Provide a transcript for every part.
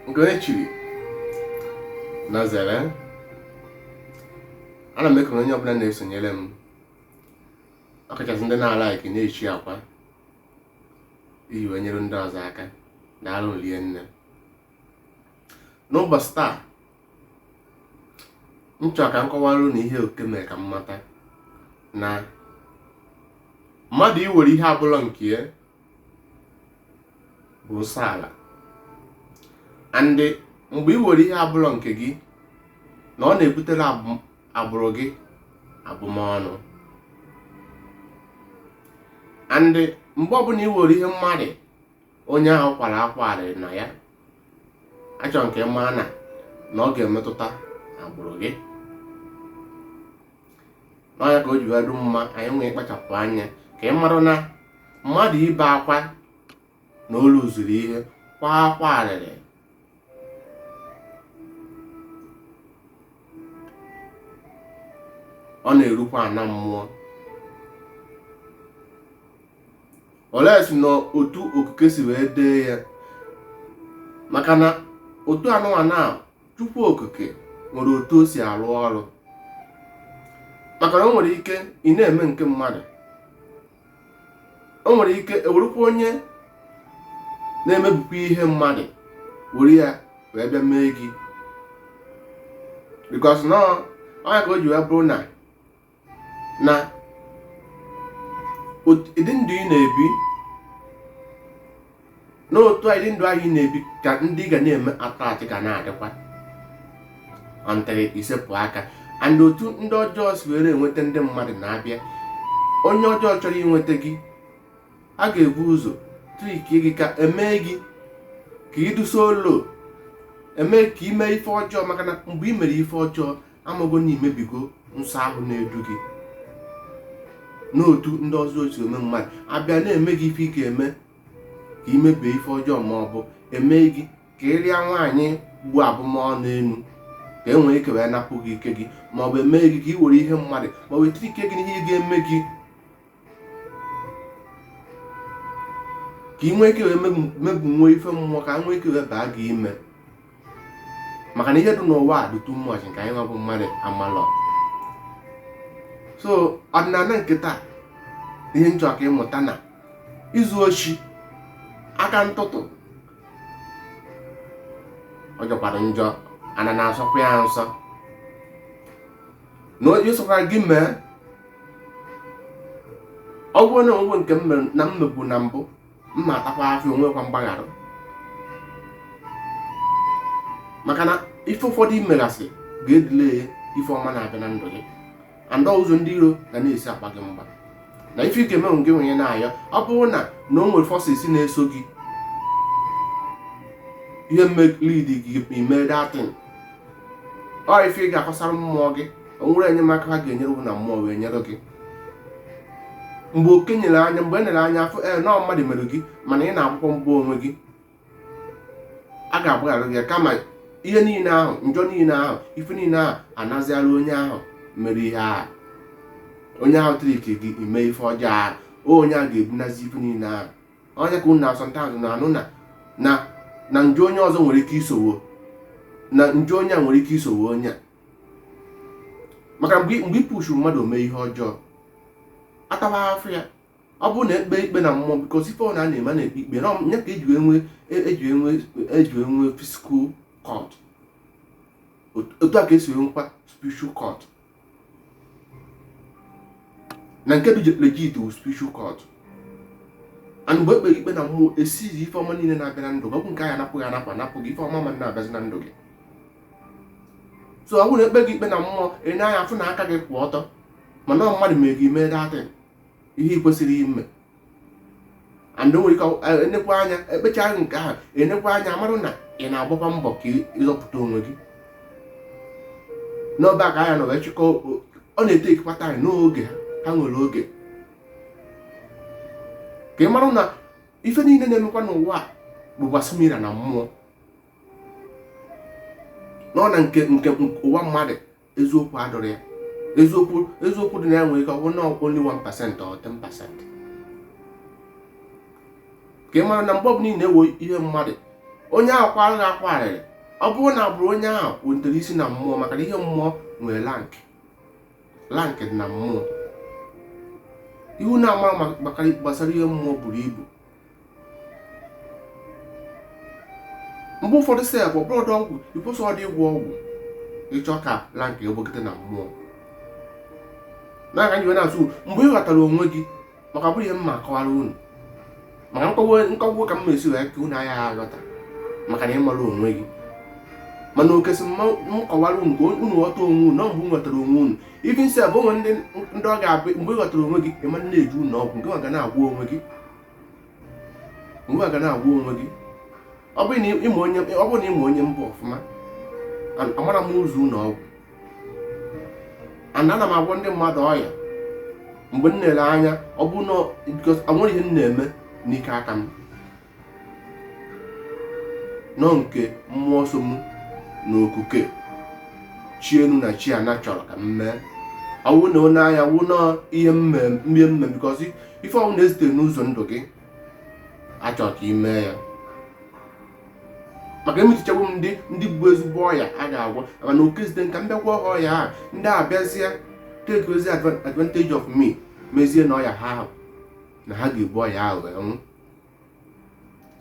nke onye chiri nya zere ana m ekele onye ọbụla na-esonyere m ọkachasị ndị na-alike na-eshare kwa iji wee nyere ndị ọzọ aka daalụ rie nne n'ụbọchị taa m chọrọ ka m kọwara unu ihe okike mere ka m mata na mmadụ iwere ihe abụla nke ya bụ nsọ ala and mgbe ị were ihe abụrọ nke gị na ọ na-ebutere agbụrụ gị abụmọnụ and mgbe ọbụla ị were ihe mmadụ onye ahụ kwara akwa arịrị na ya achọ m ka ị mara na ọ ga-emetụta agbụrụ gị na ọ nya ka o ji wee dị mma anyị nwee ịkpachapụ anya ka ị mara na mmadụ ibe akwa na olu zuru ihe kwa akwa arịrị ọ na-erukwa ana mmụọ olee si na otu okike si wee dee ya maka na otu n'ụwa a Chukwu okike nwere otu o si arụ ọrụ maka na o nwere ike ị na-eme nke mmadụ o nwere ike ewerukwa onye na-emebukwa ihe mmadụ were ya wee bịa mee gị because na ọ nya ka o ji wee bụrụ na na ụdị ndụ ị na-ebi na otu a ụdị ndụ anyị na-ebi ka ndị ga na-eme attach ga na-adịkwa until i sepụ aka and otu ndị ọjọọ si were enweta ndị mmadụ na a bịa onye ọjọọ chọrọ inweta gị a ga-ebu ụzọ trick gị ka emee gị ka ịdụso olo emee ka ime ife ọjọọ maka na mgbe ị mere ife ọjọọ amago na imebigo nsọ ahụ na-edu gị n'otu ndị ọzọ si eme mmadụ abịa na-eme gị ife ga-eme ka imebie ife ọjọọ ma ọ bụ eme gị ka ị rịa nwaanyị bu abụmọnụ enu ka e nwee ike wee napụ gị ike gị ma ọ bụ eme gị ka ị were ihe mmadụ ma ọ bụ e trick gị n'ihe ga-eme gị ka ị nwee ike wee mebụ nwe ife mmụọ ka e nwee ike wee baa gị ime maka na ihe dị n'ụwa a dị too much nke anyị nwabụ mmadụ amalọ so ọdịnala nke taa ihe m chọ ka ị mụta na izu oshi aka ntụtụ ọ jọkwara njọ ana na-asọkwa ya nsọ na onye sịkwara gị mee ọ bụrụ na o nwee nke m mebu na mbụ mma atakwa afọ onwekwa mgbaghara maka na ife ụfọdụ i megasị ga-edelay ife ọma na-abịa na ndụ gị and ụzọ ndị iro ga na-esi agba gị mgba na ife ị ga-eme onwe gị nwenye na-ayọ ọ bụrụ na na o nwere forces na-eso gị ihe mmelidi gị ime that thing ọ ife ị ga-akọsara mmụọ gị o nwere enyemaka ha ga-enyere gị na mmụọ wee nyere gị mgbe oke nyere anya mgbe e nere anya afụ ee eh, na mmadụ mere gị mana ị na-akwụkwọ mgbe onwe gị a ga-agbaghara gị kama ihe niile ahụ njọ niile ahụ ife niile ahụ anazịara onye ahụ mere ihe ahụ onye ahụ trick gị ime ife ọjọọ ahụ onye ahụ ga-ebunazi ife niile ahụ ọ ya ka unu na sometimes na-anụ na na na njọ onye ọzọ nwere ike isowo na njọ onye a nwere ike isowo onye a maka mgbe mgbe i pushu mmadụ o mee ihe ọjọọ atawa afụfụ ya ọ bụrụ na e kpee ikpe na mmụọ because ife ọ na a na-eme na-ekpe ikpe na ya ka e ji enwe e ji enwe e ji enwe physical court otu a ka e si enwekwa spiritual court na nke dị legit wụ spiritual court and mgbe e kpere ikpe na mmụọ e sịzị ife ọma niile na-abịa na ndụ gị ọ bụ nke a ya-anapụ gị anapụ anapụ gị ife ọma ma na-abịazi na ndụ gị so ọ bụrụ e kpee gị ikpe na mmụọ e nee anya afụ na aka gị kwụ ọtọ mana mmadụ mere gị mee that thing ihe ị kwesịrị ime and o nwere ike e nekwa anya e kpecha nke ahụ e nekwa anya marụ na ị na-agbakwa mbọ ka ị zọpụta onwe gị n'ọba ka anya nọ wee chịkọ ọ na-etakekwa time n'oge ha nwere oge ka ị marụ na ife niile na-emekwa n'ụwa bụkwa similar na mmụọ nọ na nke nke ụwa mmadụ eziokwu adịrọ ya eziokwu eziokwu dị na ya nwere ike ọ bụ na only 1% or 10% ka ị mara na mgbe ọbụla ị na-ewe ihe mmadụ onye ahụ kwara gị akwa arịrị ọ bụrụ na bụrụ onye ahụ kwutere isi na mmụọ maka na ihe mmụọ nwere rank rank dị na mmụọ ihe unu na-ama gbasara ihe mmụọ buru ibu mgbe ụfọdụ sef ọ bụrọdụ ọgwụ ịkwụsị ọdị ịgwọ ọgwụ ịchọ ka rank egbogide na mmụọ na-aga nyiwe na-asụ mgbe ị ghọtara onwe gị maka bụrụ ihe m ma akọwara unu maka nkọwa ka m ma esi wee ka unu anya aghọta maka na ịmara onwe gị mana o kwesi m kọwara unu ka unu ghọta onwe unu na mgbe unu ghọtara onwe unu even sef o nwe ndị ndị ọ ga-abụ mgbe ị ghọtara onwe gị ị ma na-eje ụlọ ọgwụ nke ga na-agwọ onwe gị mgbe ga na-agwọ onwe gị ọ bụrụ na ị ma onye ọ bụrụ na ị ma onye m bụ ọfụma amarọ m ụzọ ụlọ ọgwụ ana ana m agwọ ndị mmadụ ọya mgbe m na-ele anya ọ bụ na o nwere ihe m na-eme n'ike aka m nọ nke mmụọ so m na okuke chi enu na chi ana chọrọ ka m mee ọwụ na onye anya wụ na ihe m me because ife ọwụna e zite n'ụzọ ndụ gị a chọrọ ka ị mee ya maka emechichagbu m ndị ndị bụ ezigbo ọya a ga-agwọ maka na okuke zite ka m bịa gwọ ha ọya ha ndị a bịazie takezie advantage of me mezie na ọya ha ahụ na ha ga-ebu ọya ahụ wee nwụ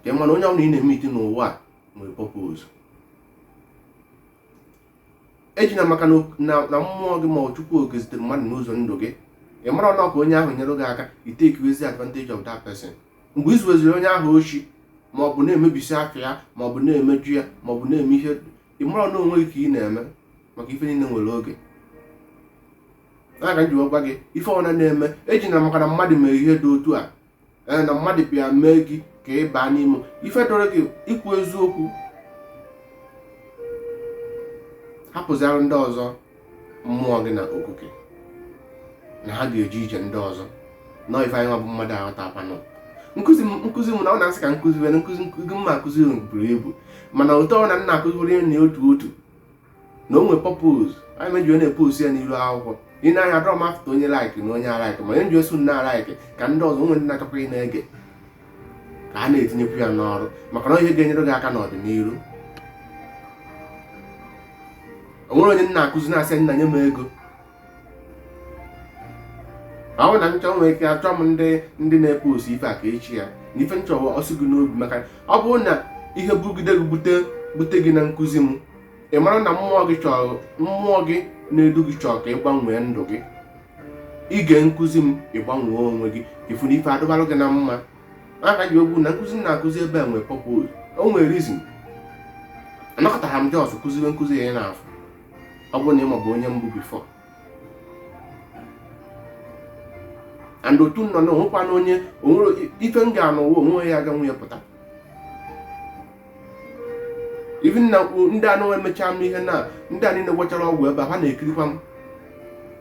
ka na onye ọbụla ị na-emeet n'ụwa a nwere purpose ejina maka na na- na mmụọ gị ma ọ chukwu okike zitere mmadụ n'ụzọ ndụ gị ị mara na ọ ka onye ahụ nyere gị aka i takezie advantage of that person mgbe i zuweziri onye ahụ oshi ma ọ bụ na-emebisi afa ya ma ọ bụ na-emejọ ya ma ọ bụ na-eme ihe ị mara na onwe gị ka ị na-eme maka ife niile nwere oge na-aga m ji wee gwa gị ife ọbụla ị na-eme ejina maka na mmadụ mere ihe dị otu a ee na mmadụ bịa mee gị ka ị baa n'ime ife dụrụ gị ikwu eziokwu hapụziara ndị ọzọ mmụọ gị na okuke na ha ga-eje ije ndị ọzọ na ife anyị nwa bụ mmadụ aghọta akwanụ nkụzi m nkụzi m na ọ na-asị ka nkụzi were nkụzi nkụzi m na-akụzi buru ibu mana ụtọ na m na-akụziri na otu otu na o nwe purpose why m ji na-epost ya n'iru akwụkwọ i nee anya adịrọ m afụta onye like na onye alike ma onye ji osu na-alike ka ndị ọzọ o nwe ndị na-achọkwa ị na-ege ka ha na-etinyekwu ya n'ọrụ maka na ihe ga-enyere gị aka n'ọdịnihu o nwere onye m na-akụzi na-asị nna nye m ego ọ bụ na m chọ nwere ike achọ m ndị ndị na-epost ife a ka echi ya na ife m chọwa o si gị n'obi maka ọ bụrụ na ihe bugide gị bute bute gị na nkụzi m ị mara na mmụọ gị chọrọ mmụọ gị na-edu gị chọrọ ka ị gbanwee ndụ gị i gee nkụzi m ị gbanwee onwe gị ị fụ na ife adụbalụ gị na mma aka ji ekwu na nkụzi m na-akụzi ebe a nwere purpose o nwere reason anọkatarọ m just kụziwe nkụzi a ị na-afụ ọ bụrụ na ị mabu onye m bụ before and otu nọ na o nwekwa na onye o nwere ife m ga-anụ ụwa onwe ya aga nwunye pụta even na ndị ahụ mechara m ihe na ndị a niile gwọchara ọgwụ ebe a ha na-ekirikwa m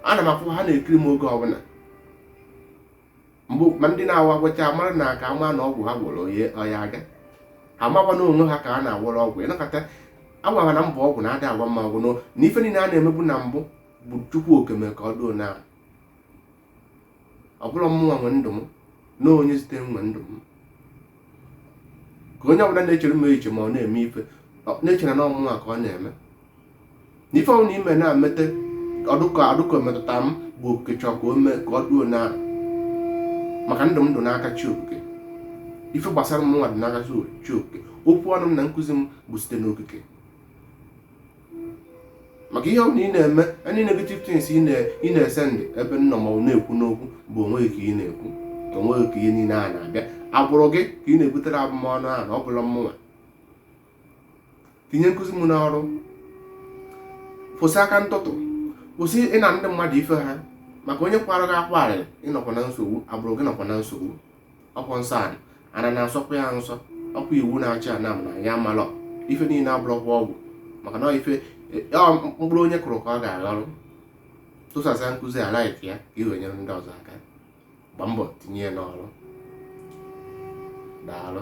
ana m afụ ha na-ekiri m oge ọbụla mgbe ma ndị na-awa agwọcha mara na aka ama na ọgwụ ha gwọrọ onye ọya aga amakwa na onwe ha ka ha na-agwọrọ ọgwụ ị na-aghọta agwara na mbụ ọgwụ na-ada agwa mma ọgwụ na ife niile a na-emebu na mbụ bụ chukwu okike mee ka o doo na ọ bụrọ mmụnwa nwe ndụ m na onye zite nwe ndụ m ka onye ọbụla na-echere m eche ma ọ na-eme ife na-echere na ọ mụnwa ka ọ na-eme na ife ọbụna i me na-emete ọ dị ka ọ dị ka o metụta m bụ okike chọọ ka o mee ka o doo na maka ndụ m dị n'aka chi okike ife gbasara m nwa dị n'aka chi okike okwu ọnụ m na nkụzi m bụ site n'okike maka ihe ọbụla ị na-eme any negative things ị na-esendị ebe m nọ ma na-ekwu n'okwu bụ onwe gị ka ị na-ekwu onwe gị ka ihe niile a na-abịa agbụrụ gị ka ị na-ebutere abụmọnụ ahụ na ọ bụrọ mmụnwa tinye nkụzi m n'ọrụ kwụsị aka ntụtụ kwụsị ịna ndị mmadụ ife ha maka onye kwara gị akwa arịrị ị nọkwa na nsogbu agbụrụ gị nọkwa na nsogbu ọkwa nsọ ana na-asọkwa ya nsọ ọkwa iwu na-achị ana m na ya amalọ ife niile abụrọkwa ọgwụ maka na ife mkpụrụ onye kụrụ ka ọ ga-aghọrọ tụsasa nkụzi a like ya ka i wee nyere ndị ọzọ aka gba mbọ tinye ya n'ọrụ daalụ